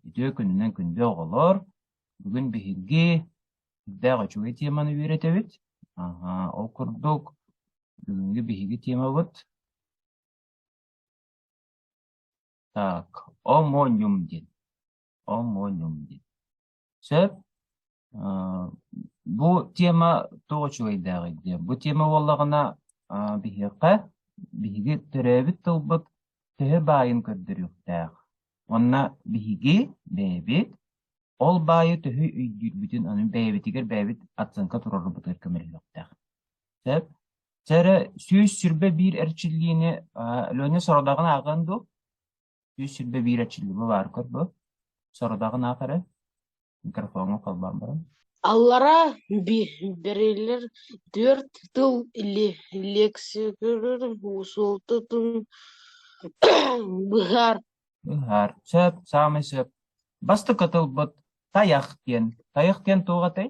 Үтүө күнүнэн күндү оҕолор! Бүгүн биһиги сүрдээх үчүгэй теманы үөрэтэбит. Ол курдук, бүгүҥҥү биһиги темабыт так, омониум диэн. Омониум диэн. Сөп. Э, бу тема туох үчүгэйдээҕий диye. Бу тема буоллаҕына э, биһиэхэ биһиги төрөөбүт тылбыт төһө баайын көрдөрүөхтээх. Онно биһиги бэйэбит ол баайы төһө өйдүүрбүтүн аны бэйэбитигэр бэйэбит оценка туруорарбытыгар көмөлөһүөхтээх. Сөп. Сэрэ сүүс сүрбэ биир эрчиллиини э, Леня сорудааҕын ааҕыан дуо? Сүүс сүүрбэ биир отчиллиба баары көрбө, сорудаҕын аах эрэ, микрофоҥҥа холбоон баран Аллара бэриллэр түөрт тыл лиэксикэлэр суолтатын быһаар Быһаар. Сөп, саамай сөп. Бастакы тылбыт тайах диэн. Тайах диэн туох этэй?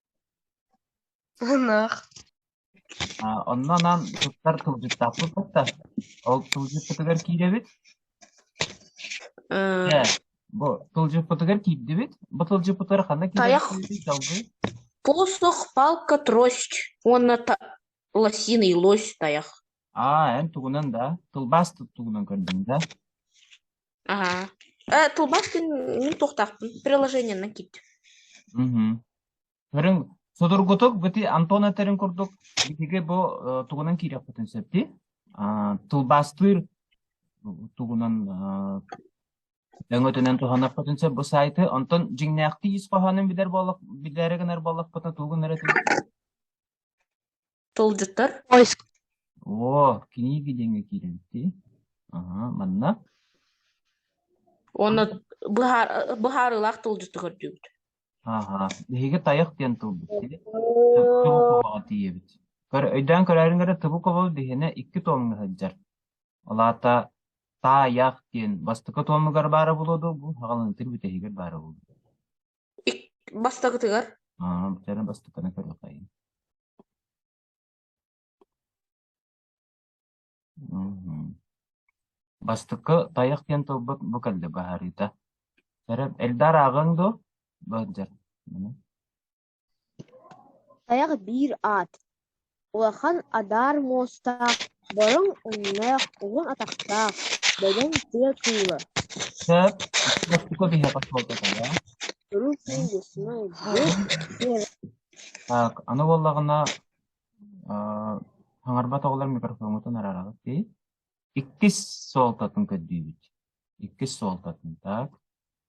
Ынах. А, онно анаан туттар тылдьыттаахпыт да, ол тылдьыппытыгар киирэбит. Э, Дьэ, бу тылдьыппытыгар киирдибит. Бу тылдьыппытыгар ханна тайах, киирэрбитий долгуй? посох, палка, трость уонна та- лосиный лось, тайах. А, эн тугунан да, тылбаас тугунан көрдүҥ да? Аһа. Э, тылбаспын мин туохтаахпын приложениенан киттим. Мгм. Көрүҥ, судургутук бити Антон этэрин курдук итиги бу э, тугунан киириэхпитин сөпти. А, тылбаастыыр тугунан э, өҥөтүнэн туһанарпытын сөп бу сайты. Онтон дьиҥнээхтии ис хоһоонун билэр буоллах, билэрэ гынар буоллахпытына тугун эрэ Тылдьыттар? Поиск. О, книги диэҥҥэ киирэн ити. Аһа, манна. Уонна быһаар, быһаарыылаах тылдьыты көрдүүбүт. Аһа, биһиги тайах диэн тылбыт. ити. Тыбу кобаҕа тиийэбит. Көр, өйдөөн көрөөрүҥ эрэ тыбу кобол биһинэ икки туомҥа сылдьар. Ол аата таайах диэн бастакы туомугар баара буолуо дуо бу, хаҕалынтыр бүтэһигэр баара буолуо. Бастакытыгар Аа, битэрэн бастатана көрүөхэйин. Мгм. Бастакы тайах диэн тылбыт бу кэлли баһарыыта. Сэрэ эльдар ааҕыҥ дуу? Бу дьэр. Тайах биир аат. Улахан адаар муостаах, бороҥ өҥнөөх, уһун атахтаах, бөдөҥ тыа кыыла. Куруук ньылбыснай, бурук биэрэ хаҥарбат оҕолор микрофоҥҥутун арараҕыт дии. Иккис суолтатын көрдүүбүт. Иккис суолтатын так.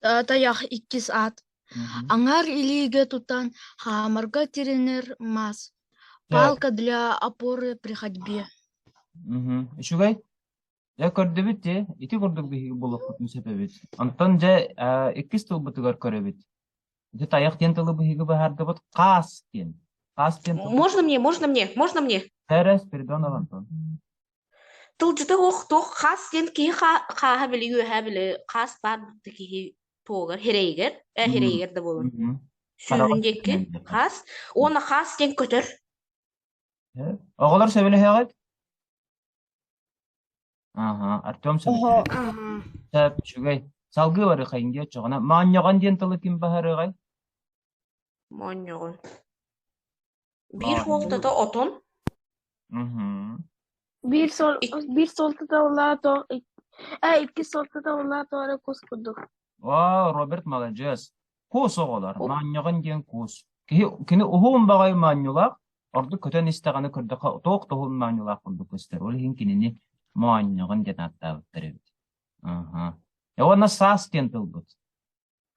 Тайах иккис аат. Мгм. Аңар илиигэ тутан хаамарга тирэнэр мас. Так. Палка для опоры при ходьбе. Мгм. Үчүгэй. Дьэ көрдөбүт дьэ. Ити курдук биһиги буолуохпутун сөпөбүт. Онтон дьэ э, иккис тылбытыгар көрөбүт. Дьэ тайах диэн тылы биһиги быһаардыбыт хаас диэн. Хаас диэн тылбыт. Можно мне, можно мне, можно мне? Терес, Передон, Антон. Тылдьыта суох туох хас диэн киһи хаа- хааһа били үөһэ били хаас баар да киһи туогар ирэйигэр э, Мгм. ирэйигэр да буолар Мгм. Хараҕа сүүһүн диэки түспүнэн диэтэ. хаас уонна хаас диэн көтөр Э? Оҕолор сөбүлэһэҕит? Аха, Артем сөбүлэһэр. Оһо аһа Сөп, үчүгэй. Салгыы барыхайын диэ оччоҕуна. Моонньоҕон диэн тылы ким баһарыаҕай? моонньоҕон биир суол Бааллыы. тото отон, Мгм. Биир суол, ик- биир суол тото улаато, ик- э, икки суол тото улаато эрэ кус курдук. Вау, Роберт маладьыас. Куус оҕолор, У- моонньоҕон диэн куус. Киһи, кини уһун баҕайы моонньулаах, ордук көтөн истэҕинэ көрдөхө туох да уһун моонньулаах курдук көстөр. Ол иһин кинини моонньоҕон диэн ааттаабыттар эбит. Аха. Э, уонна саас диэн тылбыт.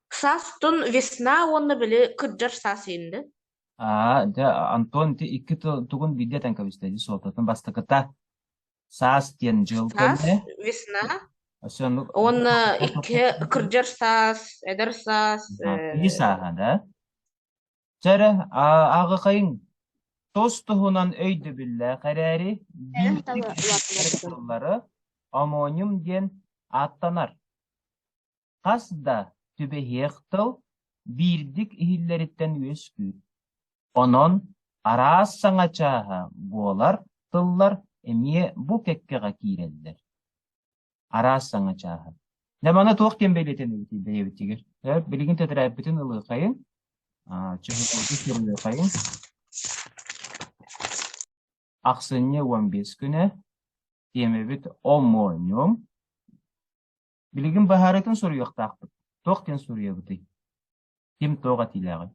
Саастан весна уонна били кырдьар саас инде. Аа, дьэ, Антон, ити икки тыл тугун биирдэ этэн кэбистэ, дии суолтатын бастакыта. Саас диэн дьыл Саас, кэннэ. весна Өссө ону уонна икки кырдьар саас, эдэр саас. киһи э, сааһа, да? Дьэ эрэ, аҕақайың тос туһунан өйдөбүллээх эрээри, биир Эрэм таба улаатынар тыллары омоним диэн ааттанар. хас да түбэһиэх тыл биирдик иһиллэриттэн үөскүүр. Онон араас саҥа чааһа буолар тыллар эмиэ бу кэккэҕэ киирэллэр. Араас саҥа чааһа. Дэ маны туох ким бэлиэтэнэбитий бэйэбитигэр? Билигин тэтэрээппитин ылыахайын. Чөһүтүүтү сырылыахайын. Ахсынньы уон бес күнэ. Тиэмэбит омооньум. Билигин быһаарыытын суруйуохтаахпыт. Туох диэн суруйабытый? Ким туох этиилээҕий?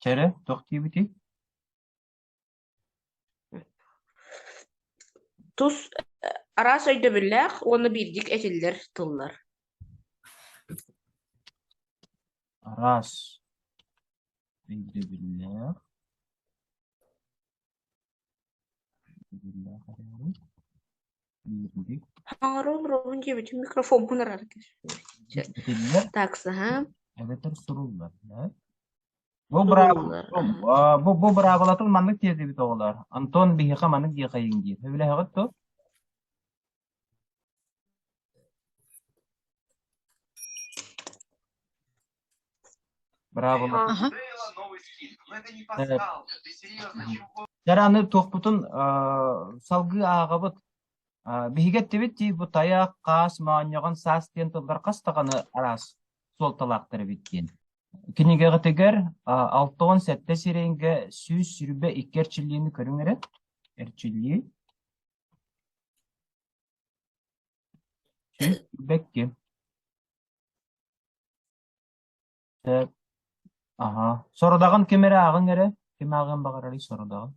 Чэрэ, туох диэбитий? Тус араас өйдөбүллээх уонна биирдик этиллэр тыллар. Араас өйдөбүллээх Хаарыл Робин диэбитин микрофоммун арара түспүт. Итиннэ Таксаһа эбэтэр суруллар. э? Бу суруллар. браабылатым, а, бу бу быраабылатын маннык тиэрдибит оҕолор. Антон биһиэхэ маннык диэхэйиҥ диир. Сөбүлэһэҕит ту? Браво, Ага. Э, Дара аны туохпутун э, салгыы ааҕабыт. Э, Биһиги эттибит тиис бу тайах, хаас, моонньоҕон, саас диэн тыллар хастаҕаны араас суолталаахтар эбит диэн. Кинигэҕитигэр э, алта уон сэттэ сирэйгэ сүүс сүүрбэ икки эрчиллиини көрүҥ эрэ. Эрчиллии. Бэкки, сөп, аһа. Сорудаҕын ким эрэ ааҕыҥ эрэ. Ким ааҕыан баҕарарый сорудаҕын?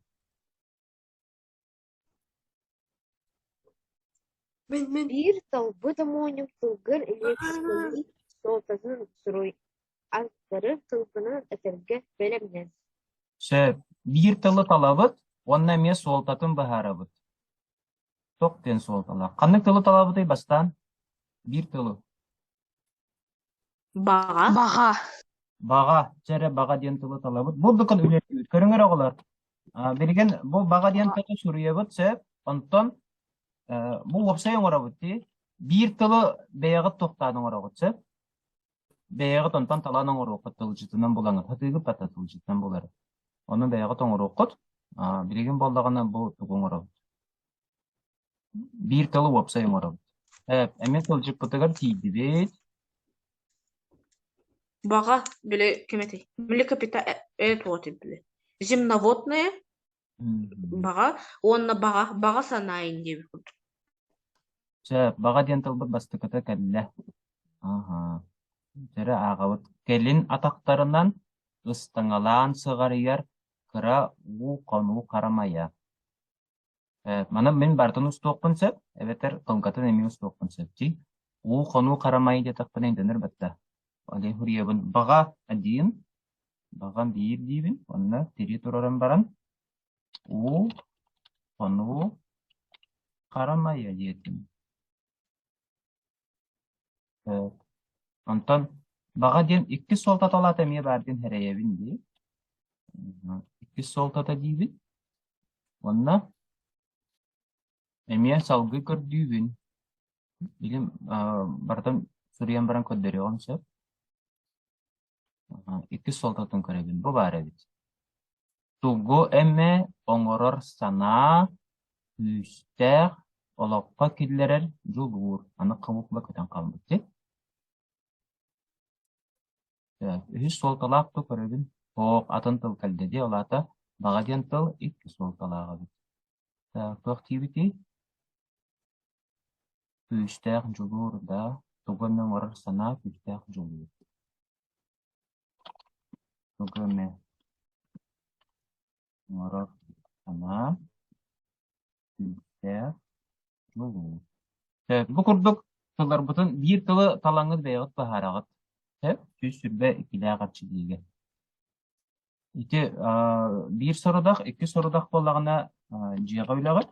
Мин мин биир тылбыт омоонньук тылгын элиэксийии суолтатын суруй. аттары сылгынан этэргэ бэлэмнэс Сөп. Биир тылы талабыт уонна эмиэ суолтатын быһаарабыт. Туох диэн суолталаах? Ханнык тылы талабытый бастаан? Биир тылы. Баҕа. Баҕа. Баҕа. Дьэ эрэ баҕа диэн тылы талабыт. Бурдукун үлэлиир. Көрүҥэр оҕолор. А, билигин бу баҕа диэн тылы суруйабыт сөп. Онтон э, бу уопсай оҥоробут дии. Биир тылы бэйэҕит тохтаан оҥоробут сөп. Бэйэҕит онтон талаан оҥоруоххут тылдьытынан булаҥыт. Сатыыгыт да тылдьытынан булары. Ону бэйэҕит оҥоруоххут. Аа, билигин буоллаҕына бу тугу оҥоробут? Биир тылы уопсай оҥоробут. Э, эмиэ тылдьыппытыгар тиийдибит. Баҕа, били ким этий? Млекопита э, э туох этий били? Земноводные? Баҕа уонна баҕа, баҕа санаайын диэбит курдук. Чэ, баҕа диэн тылбыт бастакыта кэллэ. Аһа. Дьэ, ааҕабыт. Кэлин атахтарынан ыстаҥалаан сыҕарыйар кыра уу хонуу харамайа. Э, маны мин барытын устуохпун сөп, эбэтэр тылгатын эмиэ устуохпун сөп дии. Уу хонуу харамайы диэтэхпинэ өйдөнөр баттаа. Олег Гурьевын баҕа один, Баҕам биир диибин, уонна тирии турарын баран уу, хонуу, харамайа диэтим. Э, онтон баҕа диэн иккис суолтата улаата эмиэ баар диэн эрэйэбин дии. Иккис суолтата диибин. Уонна эмиэ салгыы көрдүүбүн. Билим, барытын суруйан баран көрдөрүөҕүм сөп. иккис суолтатын көрөбүн. Бу баар эбит. Тугу эмэ оҥорор санаа күүстээх олоххо киллэрэр дьулуур. Аны хомуурга көтөн хаалбыт. дьи. Так, үһүс суолталаах тыл көрөбүн. Оһох атын тыл кэлдэ дии, ол аата баҕа диэн тыл икки суолталаах эбит. Так, туох диэбитий? Күүстээх дьулуур да, тугу эмэ оҥорор санаа күүстээх дьулуур тугу эмэ оҥорор санаа күүстээх дьулуур. Сөп. Бу курдук тылларбытын биир тылы талаҥҥыт бэйэҕит быһаараҕыт. Сөп. Сүүс сүрбэ иккилээх эрчиллиигэ. Ити аа, биир сорудах, икки сорудах буоллаҕына аа, дьиэҕэ үлэҕит.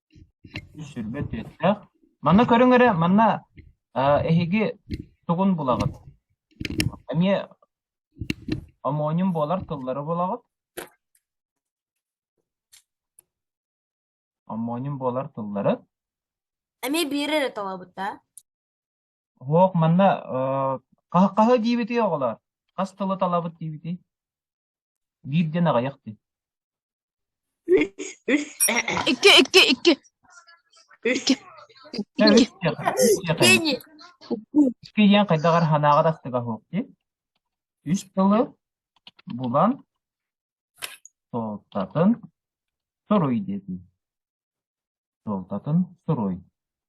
Сүргэ түөстээх. Манна көрүҥ эрэ, манна аа эһиги тугун булаҕыт? Эмиэ омооньум буолар тыллары булаҕыт. Омооньум буолар тыллары. Эмиэ биир эрэ талабыттаа. Уһуох, манна аа хаһы, хаһы диэбитий оҕолоор? Хас тылы талабыт диэбитий? Биир диэн аҕыйах дии. Үс э-э. Икки, икки, икки. Үс. Икки, үс диэхэ, үс диэхэ. Кенни. Икки диэн хайдах эрэ санааҕа дастыга суох дии. Үс тылы булан суолтатын суруй дии. Суолтатын суруй.